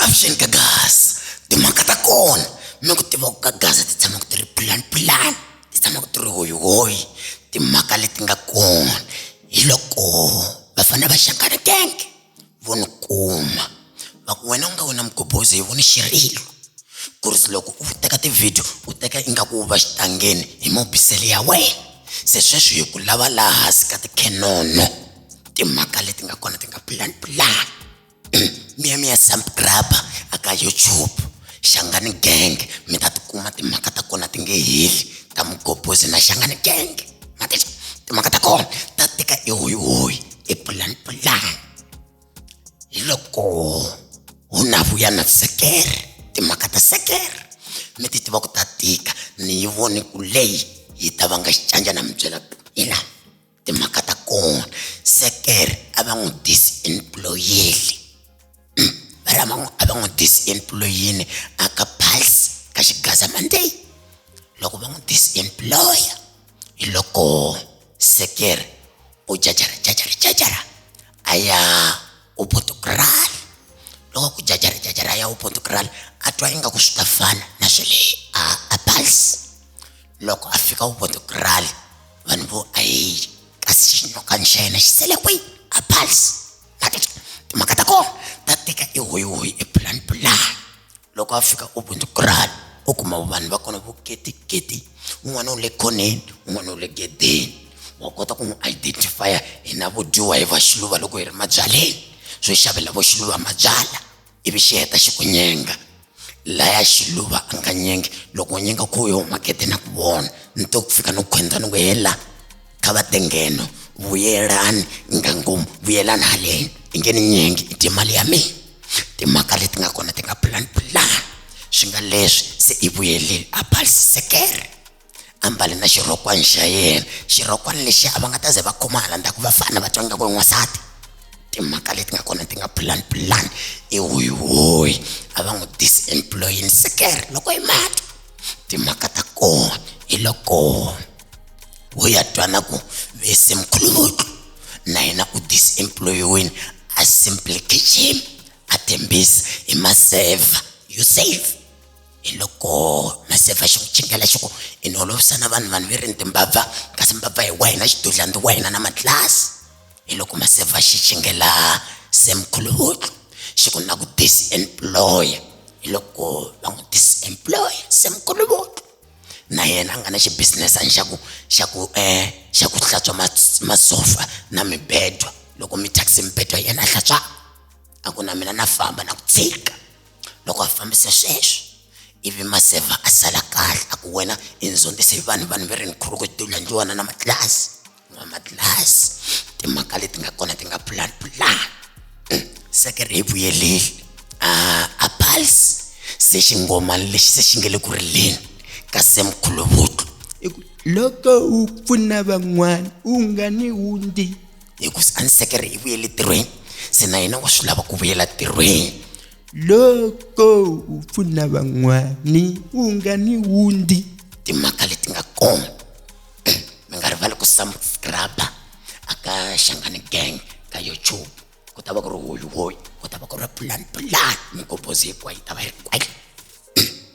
avuxeni ka gas timhaka ta kona mi ku tiva ku ka gas ti tshama ku ti ri plan plan ti tshama ku ti ri hoyihoyi timhaka leti nga kona hi loko va fanele va xaka ri tank vo ni kuma va ku wena u nga wena mugobhozi hi voni xirilo ku ri loko u teka tivhidiyo u teka ingaku u va xitangeni hi mobisele ya wena se sweswi hi ku lava laha hansi ka tikhenono timhaka leti nga kona ti nga pulani pulani miya miya samp grabber aka youtube xangani gang mi ta tikuma timhaka ta kona ti nge heli ta mugobhozi na xangani gang matisa timhaka ta kona ta tika i hoyihoyi i pulani pulani hi loko hu na vuya na sekere timhaka ta sekere mi ti tiva ku ta tika ni yi voni ku leyi yi ta va nga xicanja na mi byela ku ina timhaka ta kona sekere a va n'wi disiemployeli a va n'wi a va n'wi disemployini a ka pulse ka xigazamande loko va n'wi disemploya hi loko sekere u jajara jajara jajara a ya u portugal loko ku jajara jajara a ya u portugal a twa ingaku swi ta fana na swe le a a pulse loko a fika u portugal vanhu vo ayi kasi xinokani xa yena xi sele kwihi a pulse timhaka ta kona ta tika i hoyihoyi i pulani pulani loko a fika u bundzu kurani u kuma vanhu va kona vo ketiketi un'wana u le khoneni un'wana u le gedeni wa kota ku n'wi identifya hina vo dyiwa hi va xiluva loko hi ri mabyaleni swo xavela vo xiluva mabyala ivi xi heta xi ku nyenga laya xiluva a nga nyengi loko u nyenga ku yo makete na ku vona ni to ku fika ni ku khwenza ni ku hela kha va te ngheno vuyelani ngangomu vuyelani haleni i nge ni nyengi i dye mali ya mina timhaka leti nga kona ti nga pulani pulani swi nga leswi se i vuyelile a balisisekere ambale na xirhokwani xa yena xirhokwani lexi a va nga ta ze va khoma hala ndzhaku va fana va twa nga ku i n'wansati timhaka leti nga kona ti nga pulani pulani i hoyihoyi a va n'wi disemployini sekere loko i mati timhaka ta kona hi loko ho ya twana ku vese mkhuluvutlu na yena u disemployiwini a simply kitchen a tembisa hi maseva you save hi loko maseva xi ku chingela xi ku i ni olovisa na vanhu vanhu ve ri ni timbabva kasi mbabva hi wa hina xidudlandi wa hina na matlasi hi loko maseva xi chingela semkhuluhutlu xi ku na ku disemploya hi loko va n'wi disemploya semkhuluhutlu na yena a nga na xibusinesani xa ku xa ku um xa ku hlantswa mas- masofa na mibedwa loko mi thyakise mibedwa yena a hlantswa a ku na mina na famba na ku tshika loko a fambisa sweswo ivi maseva a sala kahle a ku wena i ndzondzisi vanhu vanhu va ri ni khuluku ti landliwana na matlasi na matlasi timhaka leti nga kona ti nga pulani pulani mm, seke ri hi vuyeleli ah, a pulse se xingomani lexi se xi nge le ku rileni ka semkhuluvutlo loko u pfuna van'wana u nga ni wundi hi ku a ni sekere hi vuyele tirhweni se na yena wa swi lava ku vuyela tirhweni loko u pfuna van'wani u nga ni wundi timhaka leti nga kona mi nga rivali ku subscribe aka xangani gang ka youtube ku ta va ku ri hoyihoyi ku ta va ku ri plan plan migobhozi hinkwayo yi ta va yi ri kwale